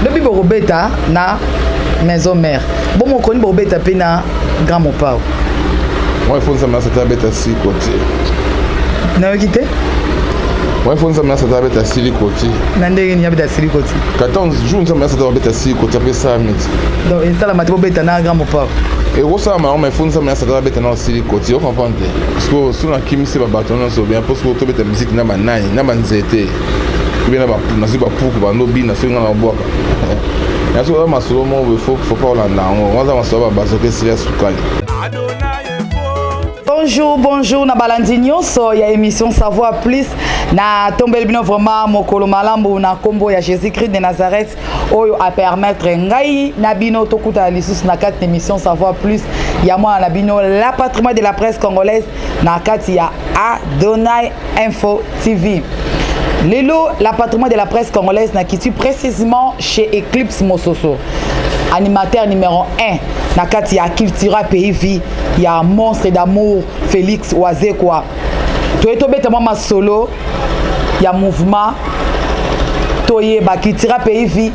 lobi bokobeta na maison mère bongo okoni bokobeta mpe na grand mopao moi fo nzambe nasa te abeta siko te nayoki te moi fo nzambe nasa te abeta siliko te na ndenge nini abeta siliko te 14 jour nzambe nasa te abeta siko te apesami te donc esalama te bobeta na grand mopao ekosalama yango mai fo nzambe nasa te abeta na siliko te okomprendre sikoyo soki nakimisi babato nyonso bien mpo sikoyo tobeta miziki na banai na banzete obie nazwi bapuku bando bina soki nga na babwaka ya soki oza masolo moko boye fopa olanda yango waza masolo ya babato ke sila sukali bonjour bonjour na balandi nyonso ya émission savoir plus natombeli bino vraiment mokolo malamu na nkombo ya jésus christ de nazareth oyo a permettre ngai na bino tokutana lisusu na kati na émission savoir plus ya mwana na bino la patrimoine de la presse congolaise na kati ya adonai info tv lelo la patrimoine de la presse congolaise na kiti précisément chez eclipse mososo animateur numéro 1 na kati ya cultura pays vie ya monstre d'amour félix wazekwa toye tobeta mwa masolo ya mouvement toyeba kitira pays vie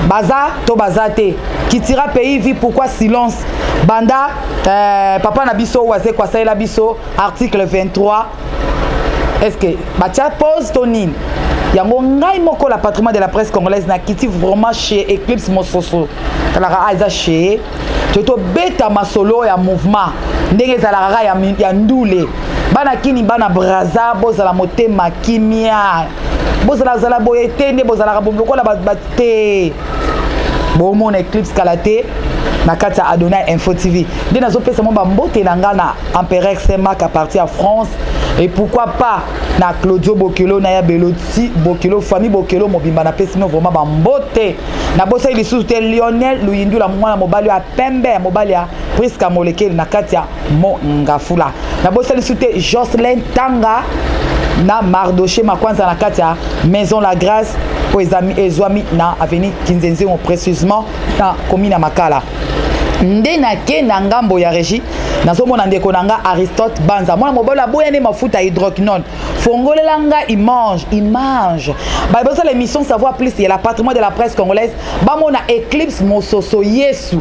baza to baza te kitira pays vie pourquoi silence banda euh, papa na biso oyo azeko asalela biso article 23 est ce que batya pose to nini yango ngai moko la patrimoine de la presse congolaise nakiti vraiment chez eclipse mososo talaka ah eza chez to tobeta masolo ya mouvement ndenge ezalaka kaka ya, ya ndule bana kini bana braza bozala motema kimia bozalazala boye te nde bozalaka lokola te bomona eclipse kala te na kati ya adonai info tv nde nazopesa mwa bambote na ngai na empereur semak apartir ya france et pourquoi pas na claudio bokelo na ya beloti bokelo famille bokelo mobimba napesi bino vraiment bambote nabosaki lisusu te lionel luyindula mwana mobali ya pembe ya mobali ya priska molekeli na kati ya mongafula nabosaki lisusu te jocelyn tanga na mardoche makwanza na kati ya maison la grâce oyo ezwami na avenue kinzenzengo précisement na komi na makala nde nake na ngambo ya régie nazomona ndeko na nga aristote banza mwana mobali aboya nde mafuta hydroquinone fongolela nga image image baye bozala émission savoir plus ya la patrimoine de la presse congolaise bamona éclipse mososo yesu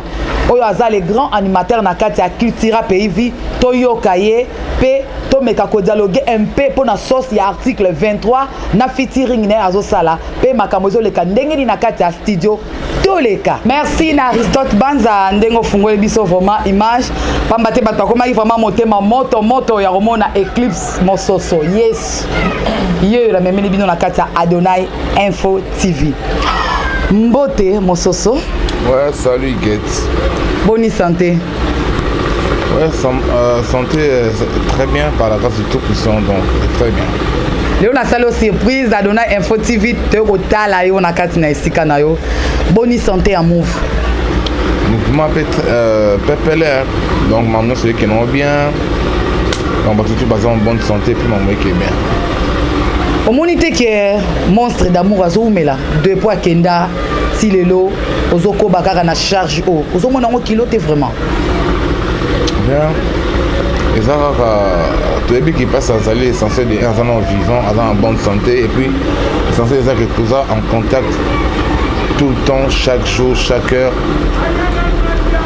oyo aza le grand animateur na kati ya cultura pays vie toyoka ye mpe tomeka kodialoge mpe mpo na source ya article 23 na fitiring naye azosala mpe makambo ezoleka ndenge nini na kati ya studio toleka merci na aristote banza ndenge ofungoli biso vraiment image mpamba te bato bakomaki vraiment motema moto moto ya komona éclipse mososo yesu ye oyo namemeli bino na kati ya adonai info tv mbote mososo ouais, salut get boni santé ouais, san, euh, santé euh, très bien par la grâce du tout puissant donc très bien lelo nasali yo surprise adonai info tv toye kotala yo na kati na esika na yo boni santé ya move mouvement pe euh, pepele donc mamno soyekenomo bien donc bato tu baza en bonne santé mpe makambo eke bien omoni te ke monstre d'amour azowumela de po akenda ti lelo ozokoba kaka na charge oyo ozomona yango kilo te vraiment bien eza kaka toyebi kipasi azali essentiel de aza na vivant aza na bonne santé et puis essentiel eza ke toza en contact tout le temps chaque jour chaque heure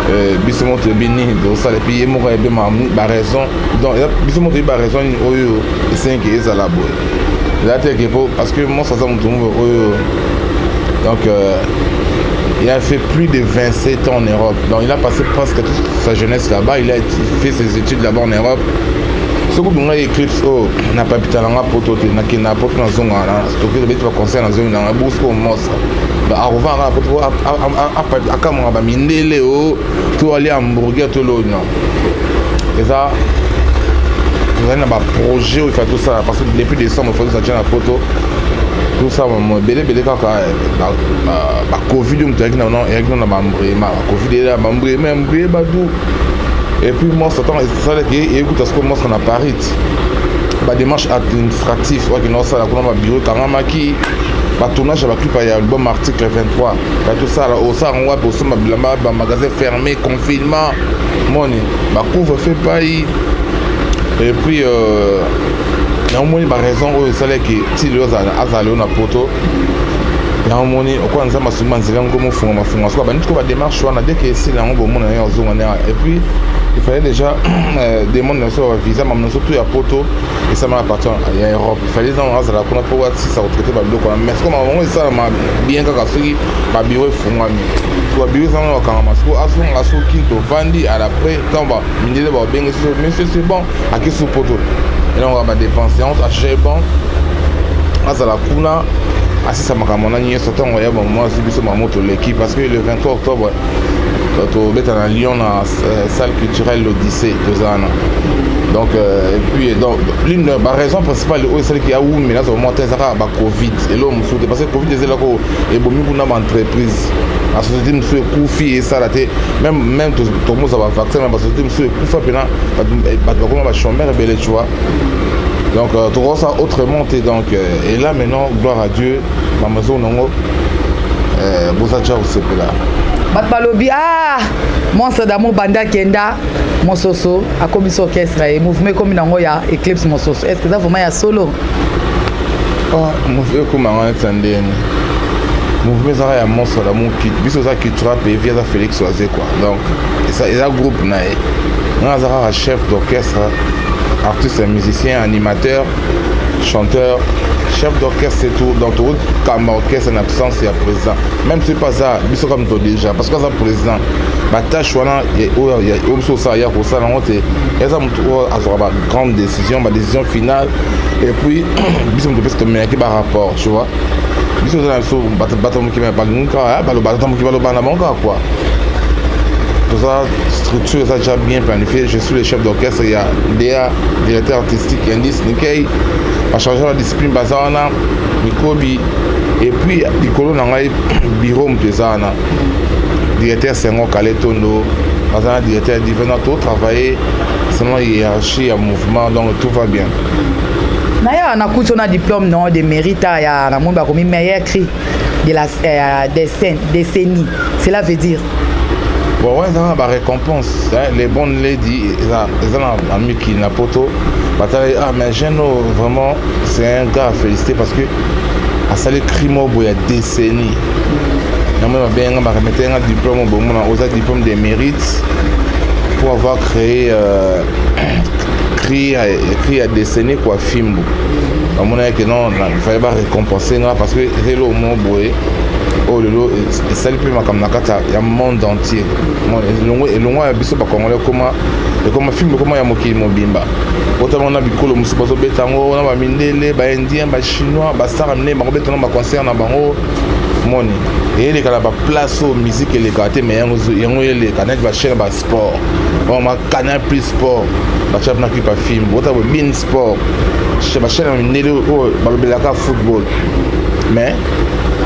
Euh, biso moko toyebi nini tozosala epuis ye moko ayebi baraison donc biso moko toyebi baraison nini oyo esengi ezala boye eza te ke po parce que monso aza moto moko oyo donc euh, il a fait plus de 27 ans en Europe donc il a passé presque toute sa jeunesse là-bas il a fait ses études là-bas en Europe soki obingai eclipse oyo oh, na papita na nga poto te nakenda poto nazonga na toki tobeti baconcert na zomi nanga bourse oyo mostre arova nga po akamwaka bamindele o to alia hamburger to loo non eza tozali na baprojet oyo ifai tosala parce que depuis décembre ifai tosatia na poto tosala ebele ebele kaka bacovid oyo moto eyaki na bambrema bacovid eyela bambrema mbrema du et puis monstre ntango esalaki eyekuta sikoyo monstre na paris bademarche administratif oyo akenda kosala kuna babiro ekangamaki batournage ya baclipa ya album article 23 batosala osala yango wapi osomba bilamba bamagasin fermé confinement moni bacouvre fe pai et puis euh, yango moni baraison oyo esalaki tili oyo azala yo na poto yango moni okoya nzambe asungi banzela yango mofunga mafunga soka banditi ko bademarche wana deke esila yango bomona yango ozonga na et puis il fallait déjà euh, demande so ba visa mamu nyonso tu ya poto esalama na partir ya europe fallait ntango azala kuna mpo asisa kotraite babiloko wana mais sikoyo makambo yango esalama bien kaka soki babiro efungwami so babiro esangana bakangama sikoyo azonga soki tovandi alapres ntango mindele baobenge so monsieur c'est bon akisi poto elongoka badepense yango achage bon azala kuna asisa makambo na nyonso ntango ya bamwa azwi biso makambo toleki parce que le 23 octobre tobeta na lyon na Euh, salle culturelle l'Odyssée toza wana donc euh, epuis donc l'une baraison principale oyo esalaki awumi naza komona te eza kaka bacovid eloko mosusu te parce que covid eza eloko ebomi kuna baentreprise na société mosusu ekufi esala te même même tokomosa bavaccin na basociété mosusu ekufa mpena bato bakoma bachomere ebele tu vois donc euh, tokoki ça autrement te donc et là maintenant gloire à dieu bamaison nango boza tya kosepela bato balobi ah Monstre d'amour banda akenda Mososo akomisi orchestre ye mouvement ekomi nango ya Eclipse Mososo est-ce que eza vraiment ya solo oh, mouvement ekoma yango neti ya ndeni mouvement ezaka ya monstre d'amour biso eza cultura pevi aza Félix Oise quoi donc eza groupe na ye nga aza kaka chef d'orchestre artiste musicien animateur chanteur chef d'orchestre et tout donc tokokamba orchestre na absence ya président même soki mpe aza biso kaka moto déjà parce que aza président batâche wana oyo biso osala ya kosala yango te eza moto oyo azwaka bagrande décision badécision finale et puis biso moto mpesi tomeyaki barapport tu vois biso oza na biso bato moki balingi kaka baloba ata moki baloba na bango kaka kua toza structure eza déjà bien planifié je suis le chef d'orchestre ya da directeur artistique indice nikei bacharge la discipline baza wana mikobi epuis likolo na ngai biro moto eza wana directeur sengo kale tondo aza na directeur divena to travaille selon hiérarchie ya mouvement donc tout va bien naye awa nakuti ona diplôme no de mérite ya namoni bakomi meilleur cri de la euh, décennie cela veut dire bon wana ezanga barécompense les bonnes lady eza na miki na poto batala ah mais jeune oyo vraiment c'est un gars à féliciter parce que asali crime oyo boye ya décennie yango oyo babengi nga baremetaki nga diplôme obongo na oza diplôme de mérite pour avoir créé euh, cri ya cri ya décennie kua fimbu bamonaki ke non fallait barécompense nga parce que eza eloko moko boye oyo oh, lelo esali mpe makambo na kati ya monde entier elongo ya biso bakongole ekoma ekoma filme ekoma ya mokili mobimba otala wana bikolo mosusu bazobeta yango na bamindele baindien bachinois basara minene bakobeta na baconcert na bango moni eyeleka na baplace oyo miziki elekaka te mai yango eleka neti bachaine basport bama canal plus sport batya mpena kipa film bota bo bin sport bachaine ya mindele oyo balobelaka football mais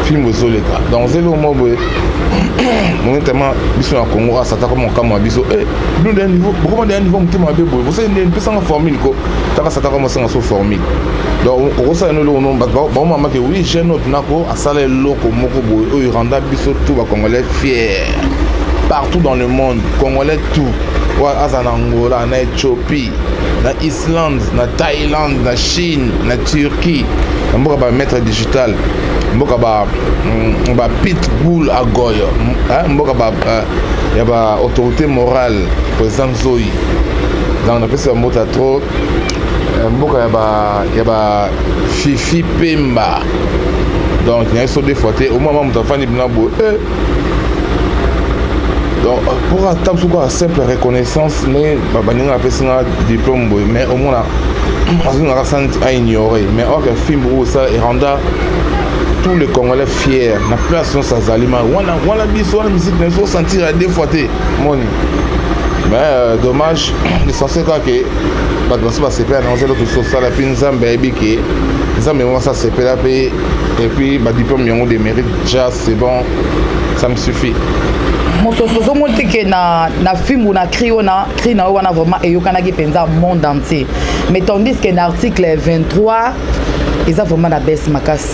film ozoleka donc ozeli omo boye monetama biso na congo asata koma mokamwa biso eh, bino nde niveau bokoma nde niveau motema mabe boye bosali nde pesanga formule ko taka sataka mosanga so formule donc okosala no eloko no bato baomamake oui jeune oyo tunako asala eloko moko boye oyo eranda biso tout bacongolais fier partout dans le monde congolais tout oyo aza na angola na ethiopie na islande na thaïlande na chine na turquie na mboka bamaître digital mboka ba mm, ba pitbull agoyo mboka ba euh, ya ba autorité morale président nzoi donc napesi bambota trop eh, mboka ya ba ya ba fifi pemba donc naye so defois te omoi ma moto afandi bina boye eh. donc pour ata mosuku ya simple reconnaissance nde baninga napesi nga diplôme boye mais omona azonga ka santi a ignorer mais orke fimbu oyo esala eranda tous les congolais fier na place nyonso azali ma wana wana biso wana miziki na biso osentir ya deux fois te moni mais euh, dommage l'essentiel kaka ke bato basi basepela na ozela tosi osala mpe nzambe ayebi ke nzambe yango basi asepela mpe epuis badiplome yango de mérite ja c'est bon ça me suffit mosusu ozomoni te ke na, na fimbu na cri wana cri na yo wana vraiment eyokanaki mpenza monde entier mais tandis que na article 23 eza vraiment na base makasi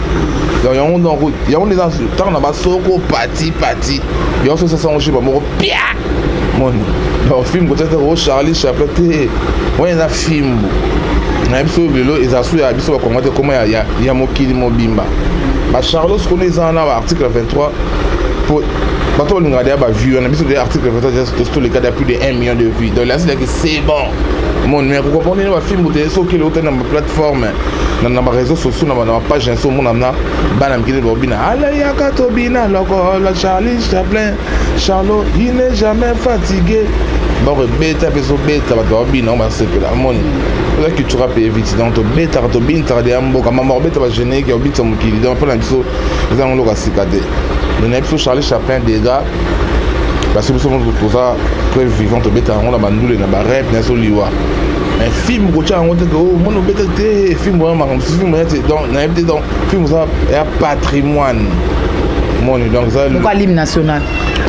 donc yango donc yango nde eza ntango na basoko pati pati yango soki sasa yango shiba moko pia moni donc film kotya te o charlie chaplin te oyo eza fimbu na biso lelo eza su ya biso bakongo te koma ya mokili mobimba bacharlos kuna eza wana baarticle 23 po bato balingaka deya bavue wana biso deya article 23 toleka deya plus de 1 million de vue donc lasilaki c'est bon mon mais kokomprendre bafimbu te soki eleuta na baplateforme na na bareseau sociaux na bana bapage na biso omona na bana mikili babina aleyaka tobina lokola charlie chaplin charlot il n'est jamais fatigué bakobeta mpe ezobeta bato babina yango basepela amoni oza cultura mpe eviti donc tobetaka tobinisaka deya mboka mama kobeta bagénérique ya kobinisa mokili donc mpo na biso eza yango loka sika te me na biso charlie chaplin degat basi biso moto toza preuve vivant tobeta yango na bandule na barep na so liwa mais film kotya yango te oh, omoni obeta te film oya makambo mosusu film oya te donc nayebi te donc film oza ya patrimoine moni donc eza hymne national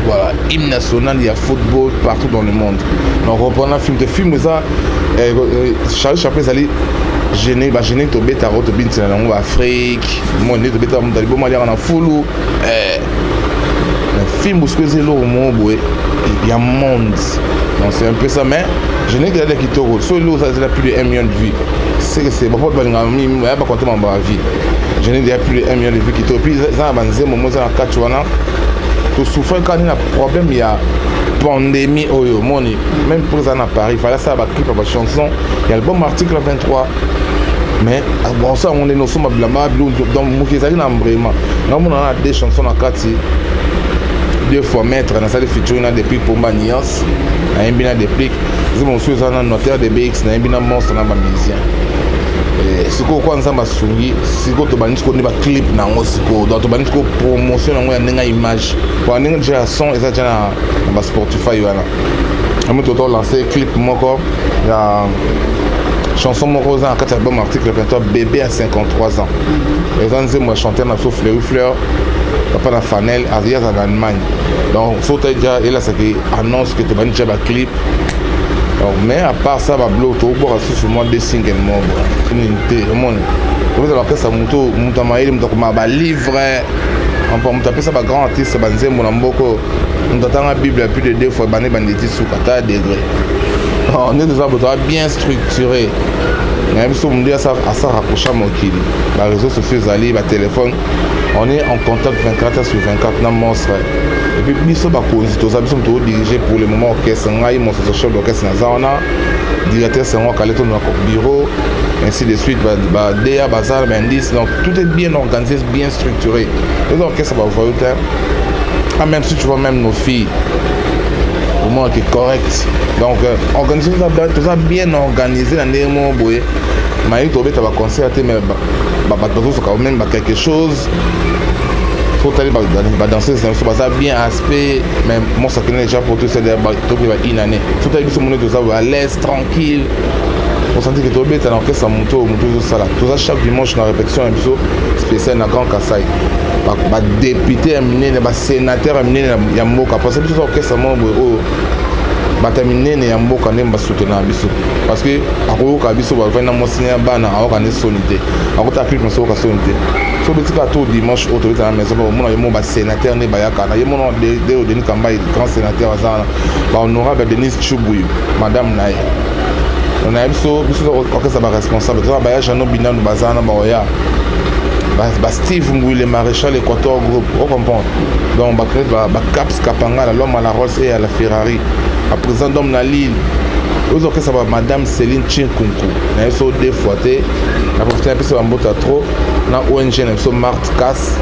voilà hymne national ya football partout dans le monde donc reprendre film te film eza eh, eh, charlie chaplin ezali gene bagene tobetaka oyo tobintisela na yango baafrike moni nde tobetaka moto aliboma aliaka na fulu eh, fimbu soki eza eloko moko boye ya monde donc c'est un peu ça mais je n'ai kelada kitoko so eloko oza ezala plus de 1 million de vie seke se bapote balingaka mingi baya bakonte mambo ya vie je n'ai déjà plus de 1 million de vie kitoko puis eza na banzembo mo eza na kati wana tosouffre kani na problème ya pandémie oyo omoni même mpo eza na paris fala asala baclipe ya bachanson ya album article 23 mais bonso yango ndenge osomba bilamba donc moki ezali na mbrema namonana na deux chanson na kati deux fois maître nasali featuring na deplic pomba nuance nayembi na deplic nzembo mosusu eza na notaire de bx nayembi na monstre na bamusien eh, sikoyo kwa nzambe asungi sikoyo tobandi sikoyo nde baclip na yango sikoyo donc tobandi sikoyo promotion na yango ya ndenge ya image po ndenge deja ya son eza deja na basportify wana ami toto lance clip moko ya chanson moko oza na kati ya album article 23 bébé à 53 ans eza nzembo ya chanteur na biso fleury fleur papa na fanel aza azala na allemagne donc so otali deja elasaki annonce ke tobandi deja baclip donc mais à part ça bablo tokobwaka susu mwa de single moko nini te omoni okozala bakesa moto moto ya mayele moto akoma balivre mpo moto apesa bagrand artiste banzembo na mboko moto atanga bible ya plus de deux fois bande banditi suka ta degré oh, nde toza botoa bien structuré na biso mundu asa rapprocha mokili ba réseaux sociaux ezali ba téléphone on est en contact 24 heures sur 24 na monstre et puis biso bakonzi toza biso moto odirige pour le moment orchestre ngai monstre chef d'orchestre naza wana directeur sango akale to na bureau ainsi de suite badea bazala baindice donc tout est bien organisé bien structuré eza orchestre bavoyo te ah, même si tu vois même nos filles vraiment que correct donc euh, organisation toza bien organisé na ndenge moko boye mayebi tobeta baconcert te mais bato bazosoka meme ba quelque chose totali badanseuse na biso baza bien aspect mais mosakina déjà pour tout toki ba une année totali biso moni toza à l'aise tranquille osanti ke tobeta na orchestre ya moto oyo moto ezosala toza chaque dimanche na répétition na biso spécial na grand kasai badepute ya minene senateur ya minene ya mboka parce biso orchestre moko boye oyo oh, bato ya minene ya mboka nde basutenaka biso parce que akoyoka biso bavandi na mwasi na bana ayoka nde soni te akotala clip na soyoka soni te so betika to dimanche oyo tobeta na maison omona ye moko basénateur nde bayaka na ye mona deo denis kambai grand sénateur aza wana bahonorable ya denise chubuyu madame na ye na ye biso biso orchestre baresponsable toza baya jeannot binanu baza wana baoya ba, ba steve ngwile maréchal équateur groupe o comprendre donc bacrete ba, ba caps kapangala l'homme à la rolls et à la ferrari baprésident d'homme na lille ozo okesa ba madame céline chinkunku na ye so deux fois te na profite na pesa bambota trop na ong na biso marte cas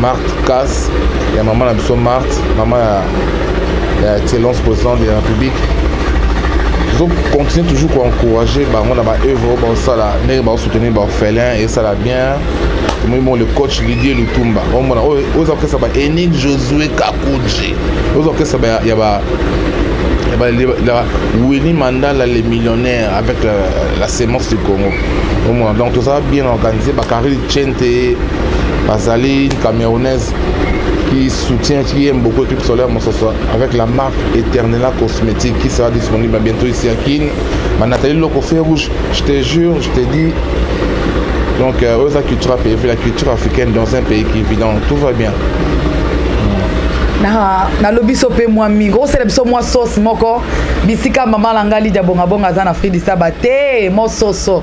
marte cas ya mama na biso marte mama ya ya excellence président de la république tozo continue toujours koencourage bango na baœuvre oyo baosala ndenge soutenir ba orphelins et ça la bien tomoni bongo le coach lidie lutumba omona oyo oza kokesa ba enin josue kakuji oza kokesa ya ba Winnie Mandala, les millionnaires, avec la, la sémence du Congo. Au moins, donc tout ça bien organisé. Bakari Chente, Bazali, une camerounaise qui soutient, qui aime beaucoup Équipe Solaire Monsassois, avec la marque Eternella Cosmétique qui sera disponible bientôt ici à Kin. ma Nathalie Loko feu rouge je te jure je te dis donc euh, oyo eza culture ya pays la culture africaine dans un pays qui vit donc tout va bien nalobi biso mpe mwa mingi okosala biso mwa sauce moko bisika mama na ngai lidia bongabonga aza na fridisaba te mososo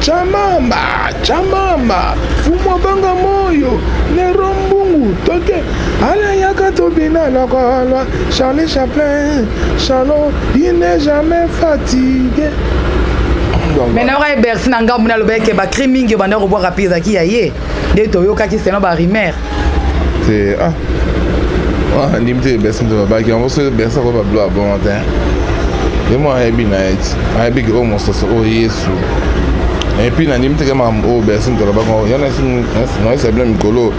Chamamba, chamamba, fumwa banga moyo, nero mbungu, toke, ala yaka tobina lokola Charlie Chaplin, Charlot, il n'est jamais fatigué. maintenant okai bercy na ngambo nalobaki ke bakri mingi obanda kobwaka mpe ezalaki ya ye nde toyokaki selon ba rumeur te ah ah ndim te bɛsi muso babaki yango so bɛsi ako babilo abongo te ye mo ayebi na ye ti ayebi ke oyo mososo oyo yesu epuis na ndimi teke makambo oyo bɛsi muso alobaki yango yana naesa bino mikolo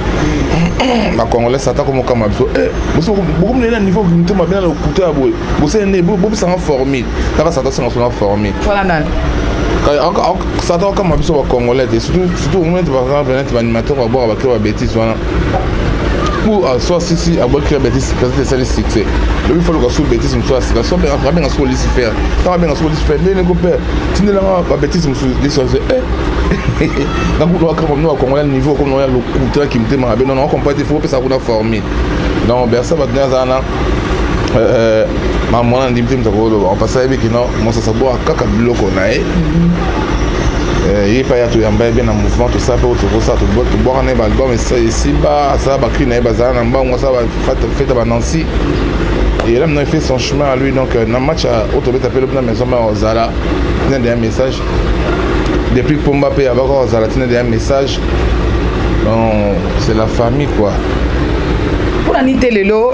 bakongolais ata komokama biso eh, bokomina na niveau mito mabe na lokuta ya boye bosene bobisanga formule kaka sata senga sona formule sata okama biso bacongolais te surtout omoni ete par exemple neti baanimateur babwaka bakila babétise wana pour euh, soit sisi abwaki kila bétise peut-être esali succès lobi fo loka su bétise mosusu ya sika soit abenga soko lisi faire ntango abenga soko lisi faire ndenge kopère tindelanga babétise mosusu lisi ose eh. nakulwaka bamino bakongolais niveau okomona ya lokuta kimotema mabe nono okompa te fo opesa kuna forme donc bersa bato nde aza na euh, ma mwana ndimi te moto akoloba mpasi ayebi kino mosasaboa kaka biloko na ye ye epai ya toyamba ye mpe na mouvement tosala mpe tokosala tobwaka na ye baalbum esiba asala bakri na ye bazala na mbango asala bafete banansi et là maintenant il fait son chemin à lui donc euh, na match oyo tobeta mpe lobi na maison mare ozala nende ya message depuis pomba mpe abaka kozala ntina deya message bon c'est la famille quoi mpona nini te lelo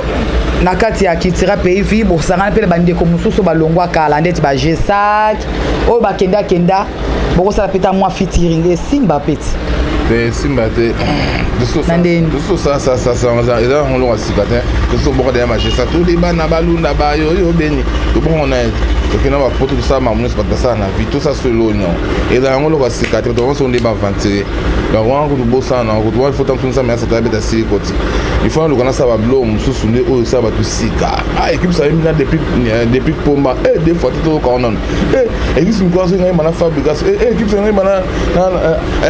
na kati ya kitira pays vi bosangana mpe na bandeko mosusu balongwa kala ndeti ba gesac oyo bakenda kenda bokosala mpe ta mwa fitiring esimba peti te esimba te eza ngolonga sika te tosoboka deya magesa toli bana balunda bayoyo beni tobongo na tokenda bapoto tosala mamu bato basala na vie tosa solo nyon eza yango eloko ya sika te bato banso nde baaventurier donc wana kutu bosana yango kutu wana ifo ntango nsambe yasa tala beta sili koti ifo naluka nasala bablo mosusu nde oyo esala bato sika a ekipe sala mina depuis pomba e de fois te toyoka wana e ekipe mikolo asoki ngai mana fabrigas e ekipe sala ngai mana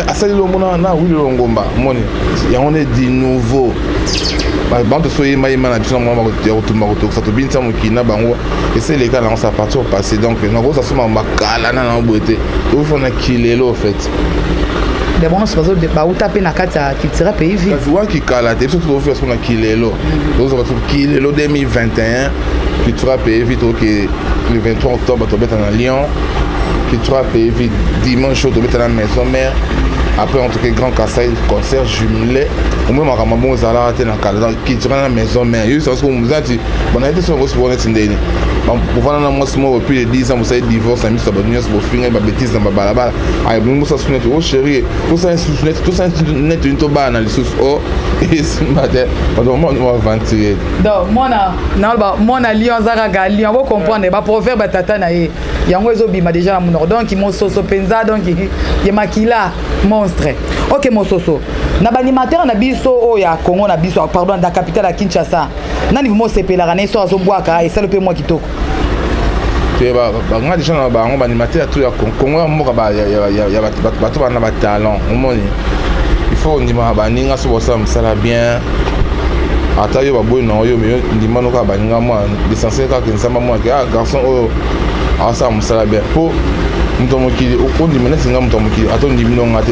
asali longo na wili longomba moni yango nde di nouveau bantu soyembayemba na biso na mwana ya kotumba kotokisa tobinisa mokili na bango esi eleka nango sa partir passé donc nakosa soma makala na nango boye te ofana kilelo ofete de bongo soki bauta mpe na kati ya culture pays vie kasi waki kala te biso tozofika soko na kilelo tozozala soko kilelo 2021 culture pays vie toke le 23 octobre tobeta na lyon culture pays vie dimanche oyo tobeta na maison mère après en tout cas grand kasai concert jumelé omoi makambo yango ezalaka te na kala donc culture na maison mère yo sasoko mozati bana ete soki okosi boneti ndeni bovanda na mwasi moko plus de 10 ans bosali divorce na miso ya bato nyonso bofingai babetise na babalabala ayebongi bosala susu neti o oh, chérie tosala susu neti tosala neti ni tobala na lisusu o oh, esimba te bato mwana baaventurier donc mwana naloba mwana lion aza kaka lion ako comprendre baproverbe ya tata na ye yango ezobima déjà na monoko donc mososo mpenza donc ye makila monstre ok mososo na baanimateur na biso oyo ya congo na biso pardon na capitale ya kinshasa nani vraimen osepelaka na ye soki azobwaka esali mpe mwa kitoko banga deja na bango baanimateur to ya kongo ya mboka bato bana batalent omoni il faut ondimaka baninga soki basala mosala bien ata yo baboyi na oyo meyo ndima no kaka baninga mwa l'essentiel kaka nzamba mwa ke ah garçon oyo asala mosala bien mpo moto ya mokili ondima neti nga moto ya mokili ata ondimi no nga te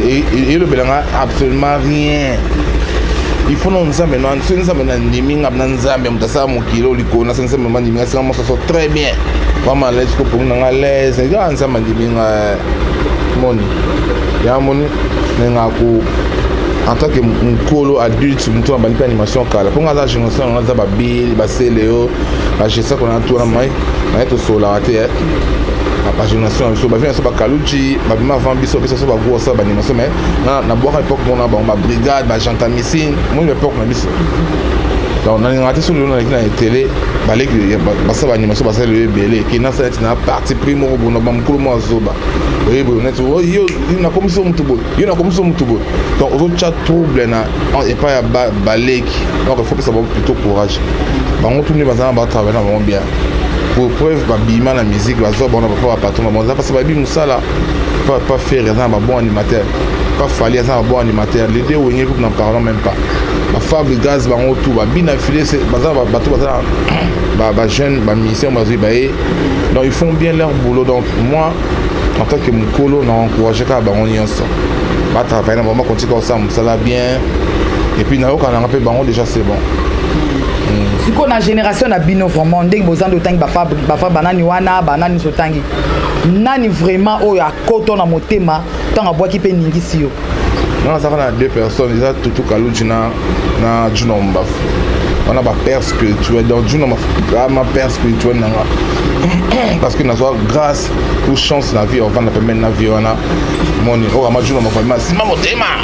elobela nga absolument rien ifono nzambe na nse nzambe na ndimi nga na nzambe moto asala mokili oyo likolo na se nzambe ma ndimi nga singa mosaso très bien vraiment alaise ko pongi na nga alaise nga ah, nzambe ndimi nga eh. moni ya moni me nga ko en tant que mokolo adulte moto abandi mpe animation kala mpo nga aza génération yango aza babili baseleo bagesta kona na tuna mai naye tosolaka te eh. bagénération ya biso bavina biso bakaluci babima avant biso bapesa biso bagosa baanimation mai na na bwaka epoque moko na bango ba brigade ba gentamicine moi epoque na biso donc nalingaka te soki lelo naleki na etele baleki basala baanimation basala lelo ebele ke nasala neti na parti pris moko boye na bamokolo moko azoba oye boye neti oh, yo nakomisi motu boye yo nakomisi motu boye donc ozotya trouble na epai ya baleki donc efopesa bango plutôt courage bango tuni baza na batravaille na bango bien pour preuve babima na musique bazwa bango na bapapa patron na bango eza mpasi bayebi mosala pas, pas faire aza na babon animateur pas fali aza na babon animateur les deux wenge groupe n'en parlons même pas bafable gaz bango tout babina file baza bato baza bajeune bamusicien bazwi baye donc ils font bien leur boulot donc moi en tant que mokolo na encourage kaka bango nyonso batravaille na bango bakontika kosala mosala bien epuis nayoka nanga mpe bango déjà c'est bon hmm. sikoyo na génération na bino vraiment ndenge bozandi otangi bafa banani wana banani otangi nani vraiment oyo akoto na motema ntango abwaki mpe ningisi yo nga nazalaka na deux personnes eza tutu kaluji na na juna mbafu wana ba père spirituel donc juna mbafu ma père spirituel na nga parce que nazwa grâce ou chance na vie ovanda pembeni na vie wana moni oyo ama juna mbafu abima nsima motema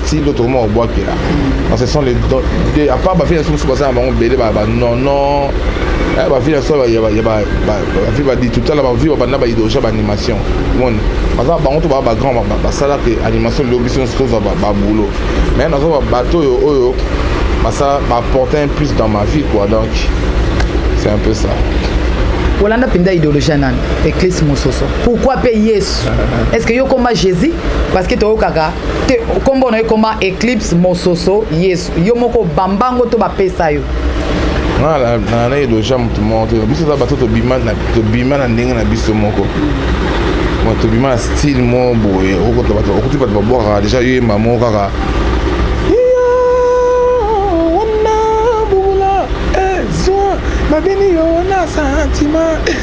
ti ndoto koma kobwakela parce que sont les deux à part bavile biso mosusu baza na bango bele banono bavile biso bavile badi totala bavile babanda baidoja baanimation moni baza bango to baa bagrand basalaka animation lelo biso nyonso tozwa baboulot mais nazwa bato oyo oyo basala baporte un plus dans ma vie quoi donc c'est un peu ça olanda mpenza idéologie ya nani eklise mosusu pourquoi mpe yesu est ce que yo okoma jésus parce que toyokaka te kombo na ekoma eclipse mososo yesu yo moko bambango to bapesa yo na eloja motu moko te biso eza bato tobima na ndenge na biso moko tobima na style moko boye okuti bato babwakaka deja yo yemba moko kaka babini yo na santima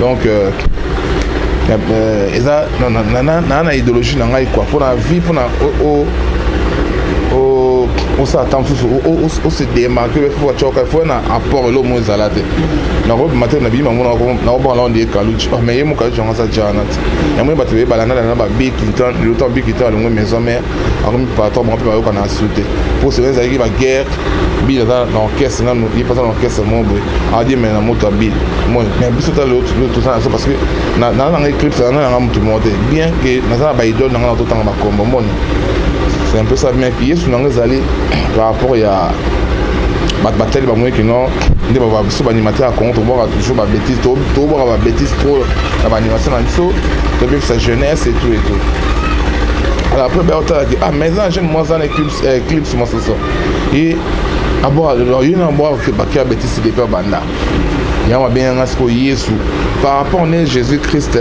donc euh, euh, eza na na idéologie na ngai quoi mpona vie mpona osala ntango mosusu ose démarke pe fo atyoka fo na apport elo mo ezala te nakobima te na biyima ngo nakobanga na onde ekaluci mais ye mokaluci yango aza jana te yango ye bato beye balandalana ba bill clinton lota bill clinton alongwe maison mare akomi patron bango mpe bayoka na su te mpo sebe ezalaki baguerre bile aza na orchestre nanu ye mpe aza na orchestre moko boye adiemela na moto ya bile moi mais biso ta lelo toza na biso parce que naza nanga eclipse naza nanga motu moko te bien que naza na baidole nanga na totanga bakombo moni c'est un peu ça bien que yesu nanga ezali par rapport ya bato batali bamoni kino nde biso baanimateur ya congo tobwaka toujours babétise tobwaka babétise trop na baanimation na biso tobebisa jeunesse etout etout alors après baya otalaki ah mais eza na jeune mwasi ana eclipse eh, masoso ye abwaka lelo ye na abwaka bakia betisi depi abanda yango abenganga sikoyo yesu par rapport ne jésus christ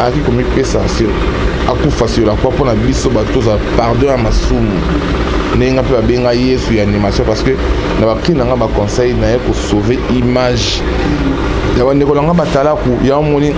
ayaki komipesa sur akufa sur la croix mpo na biso bato tozala pardon ya masumu ndenge nga mpe babenga yesu ya animation parce que na bapri na nga baconseil naye kosauve image ya bandeko na nga batalaku yango moni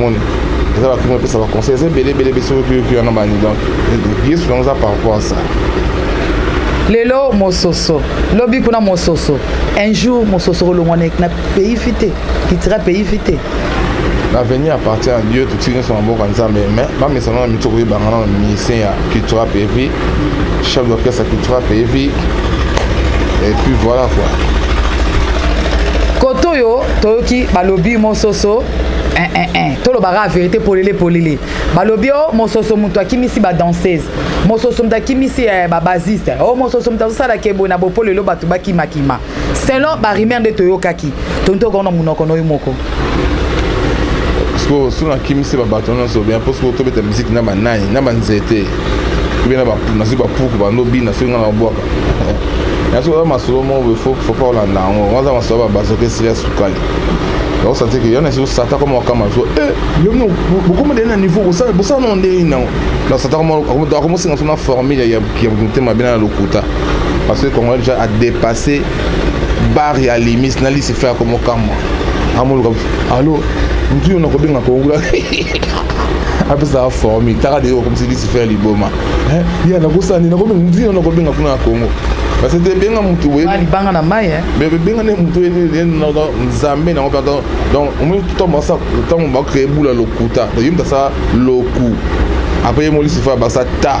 moni eza bato moko epesa baconseil eza ebele ebele bese oyoki wana bani donc yesu yango eza par rapport à ça lelo mososo lobi kuna mososo un jour mososo kolongwa na pays fi te litira pays fi te l'avenir appartient à dieu totiki nyonso na mboka nzambe mais bamesana na mito koyebanga na mise ya cultura pevi chef d'orchestre qui frappe et vit. Et puis voilà quoi. Koto yo, toyoki balobi mososo eh, eh, eh. tolobaka verité polele polele balobi o oh, mososo moto akimisi badanseuse mososo moto akimisi eh, babasiste o oh, mososo moto azosala keboye na bopolelo bato bakimakima selon ba rumeur nde toyokaki tonto okona munoko noyo moko sikoyo soki nakimisi babato nyonso bien mpo sikoyo tobeta miziki na banai na banzete obe na nazwi bapuku bando bina soki ngai nabwaka nasoki oza masolo moko fopa olanda yango waza masolo babazoka esili ya sukali bakosanti ke yana esosata koma wakama so eh, bokomedeli na niveau bosala nao ndenge nango nasata akomosinga so na formule ya motema bina na lokuta parce que congolais déjà a dépassé bar ya limis na lisi fe yako mokamwa amoluka alo mutu yo nakobenga kongula apesaka formi taka de okomisi lisi fe ya liboma ya nakosala nini nakobenga mutu yo nakobenga kuna na kongo parce que benga mutu libanga na mai benga nde mutu nzambe nango mpe donc omoni ntango basa ntango bakrea ebula lokuta yo mutu asala loku apres ye molisi fe abasa ta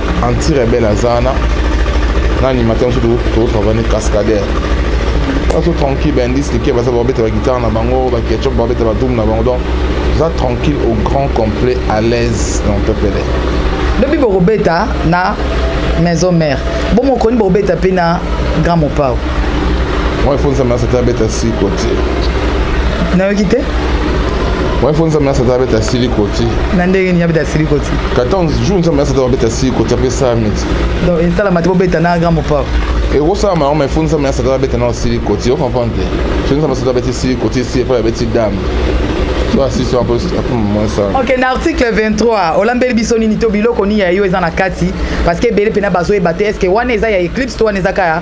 anti rebelle aza wana na animateur mosusu tokotravaille ne cascadaire baso tranquille baindice likie baza babeta baguitare na bango baketchup babeta badoum na bango donc oza tranquille au grand complet à l'aise dans pepele lobi bokobeta na maison mère bomokoni bokobeta mpe na grand mopao Moi faut nzambe asata beta si kotie. Nayoki te? Moi faut nzambe asata beta si likoti. Na ndenge ni abeta si likoti. 14 jours nzambe asata beta si kotie pe sa miti. Donc esala matibo beta na grand papa. ekosalama yango mai fo nzambe na satana abeta nao sili koti ocomprendre te so nzambe asata abeti sili koti esi epai abeti dame to asisi yango mosala ok na article 23 olambeli biso nini to biloko nini ya yo eza na kati parce que ebele mpena bazoyeba te est ce que wana eza ya éclipse to wana eza kaka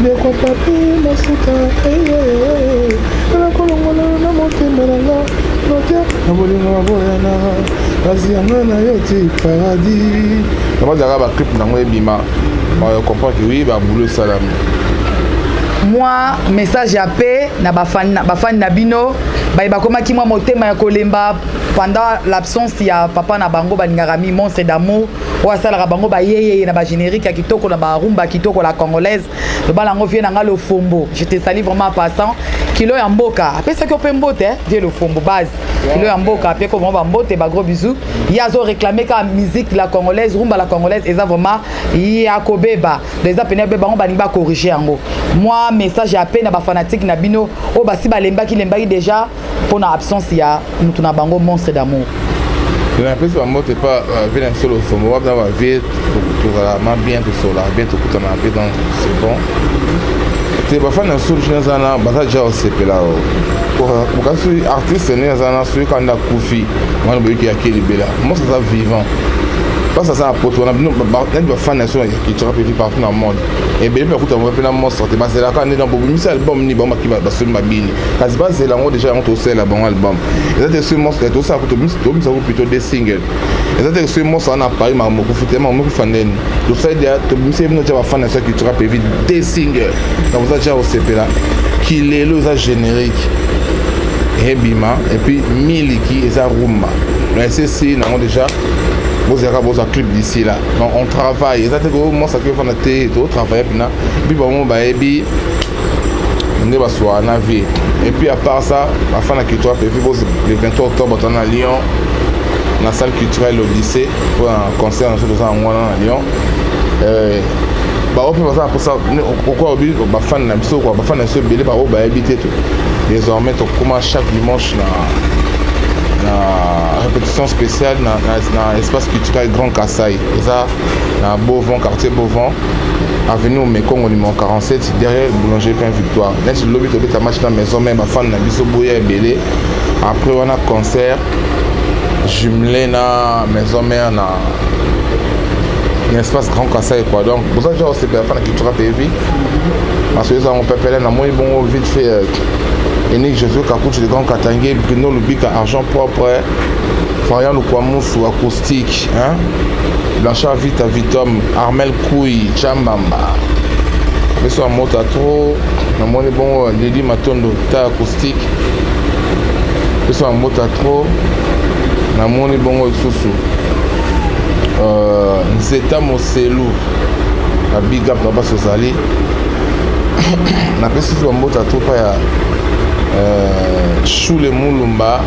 ndeko papi masuka eye nakolongola na motema na nga note na bolingo ya boyana kasi yanga na yo ti paradis bazalaka baclip nango ebima comprendre que oui baboulot esalami mwa message ya pe na bafani na bino baye bakomaki mwa motema ya kolemba pendant l'absence ya papa na bango balingaka mi monstre d'amour oyo asalaka bango bayeyeye na bagénérique ya kitoko na barumba kitoko la congolaise lobala yango vie na ngai lofombo je te sali vraiment passant kilo ya mboka apesaki yo mpe mbote vie lofombo base kilo ya mboka apeko vraiment bambote bagros bisous ye azoreklame kaka musique la congolaise rumba la congolaise eza vraiment ya kobeba do eza pene yobeba yango balingi bakorrige yango mwa message ya pe na bafanatike na bino oyo basi balembaki lembaki déjà mpo na absence ya moto na bango monstre d'amour napesi bambote epa vie na biso losomo wabna ba vie tozala ma bien tosola bien tokutana mpe donc c'est bon te bafani na solution aza na baza deja osepela bokasi artiste nde aza na soki kanda akufi wana boyoki yake libela mosi aza vivant basi aza na poto wana bino nani bafani na so ya kichaka mpe vi partout na monde ebele mpe akuta mpe na monstre te bazelaka nde na bobimisi album nini bango baki basoli mabini kasi bazela yango deja yango tosalela bango album eza te soki moso tosala tobimisa ko plutôt de single eza te soki moso wana paris maka mokufu te maka mokufa ndeni tosali deja tobimisa ye bino tya bafana ya soki tura pevi de single na boza tya kosepela kilelo eza générique ebima epuis miliki eza rumba na esesi nango deja bozalaka bozwa clip d'ici là donc on travaille eza te ko mosa ke fana te totravaille mpena mpi bango bayebi nde basuaka na vie et puis à part ça bafana culturel pevi le 23 octobre toza na lyon na salle culturelle odyssée mpo na concert na biso toza yango wana na lyon euh, bango mpe baza na mposa okoa obi bafani na biso kua bafani na biso ebele bango bayebi te to désormais tokoma chaque dimanche na na répétition spéciale na, na, na espace culturel grand kasai eza na beauvant quartier beauvant avenue omekongo numero 47 derrière boulangerie pain victoire neti lobi tobeta match na maison mai bafani na biso boya ebele après wana concert jumelé na maison mare na na espace grand kasa ekwa donc boza deja osepela fana kitura mpe vi parce que ezango pepele namoni bongo vite fait euh, enik josue kakutu le grand katange bruno lubika argent propre farian lukwamusu akusi Tic, hein? Blanchard Vita Vitom, Armel Koui, Chambamba. Beso mota trop, na moni bongo Lady Matondo ta acoustique. Beso mota trop, na moni bongo lisusu. Euh, Nzeta Moselu, na big up na baso zali. napesi bambote atopa ya euh, shule mulumba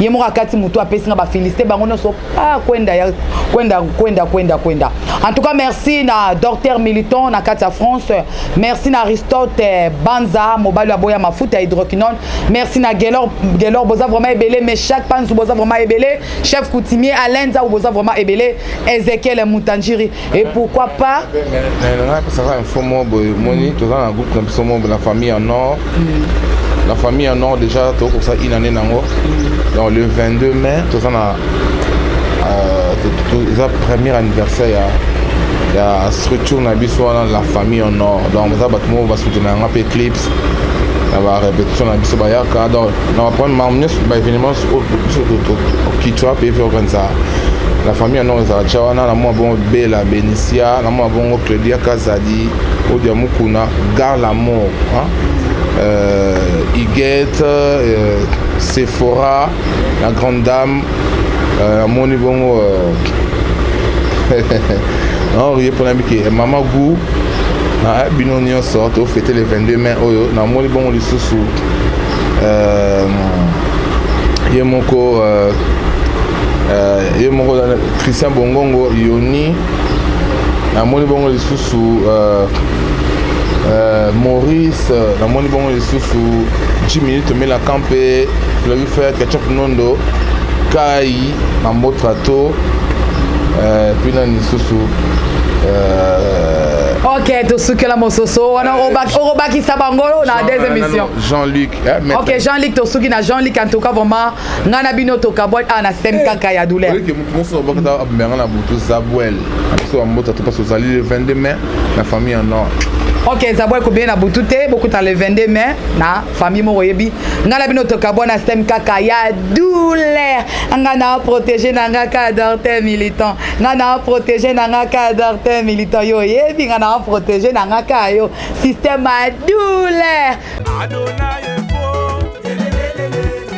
ye moko akati motu apesi nga bafiliste bango nyonso ah, kwenda ya kwenda kwenda kwenda kwenda en tout cas merci na docteur militon na kati ya france merci na aristote eh, banza mobali ya boya mafuta ya hydroquinone merci na gelor gelor boza vraiment ebele meshak panzu boza vraiment ebele chef coutumier alain nzau boza vraiment ebele ezekiel mutanjiri et pourquoi pas napesaka info moko boye omoni toza na groupe na biso moko la famille en nord mm. la famille en nord déjà tokokosa une année nango mm. donc le 22 mai toza na euh, eza premier anniversaire ya ya structure na biso wana la famille en nord donc eza bato moko basoutenaka mpe clips na ba repetition na biso bayaka donc na baprendre makambo nyonso baévénement biso kitwa mpe efe okanisa la famille yango ezala tya wana na mwa bongo bela benisia na mwa bongo claudia kazadi odia mukuna gar lamour hein? euh, igete euh, sephora la grande dame euh, amoni bongo euh, naorie mpona mike eh, mama gou na eh, bino nyonso tofete le 22 mai oyo namoni bongo lisusu euh, ye moko ye moko christian bongongo yoni namoni bongo lisusu maurice namoni bongo Susu 10 minutes omelaka mpe fleuve fer ketchup nondo kai na motra to euh, puis nani susu euh, ok tosukela mososo wana okobakisa bango na des émissions jean-luc eh, ok jean-luc tosuki na jean-luc en tout cas vraiment ngai na bino tokabwani ah, na stem kaka ya douleur Bonsoir Bakata Abmerana ah, Boutou Zabouel. Bonsoir ah, Mbota Topas Ozali le 22 mai, la famille en or. ok zabwa ekobie na butu te bokuta le 22 mai na famille moko oyebi ngai na bino tokabwa na stem kaka ya douleur ngai na protege na ngai ka dorte militant ngai na protege na ngai ka dorte militant yo oyebi ngai na protege na ngai ka yo système ya douleur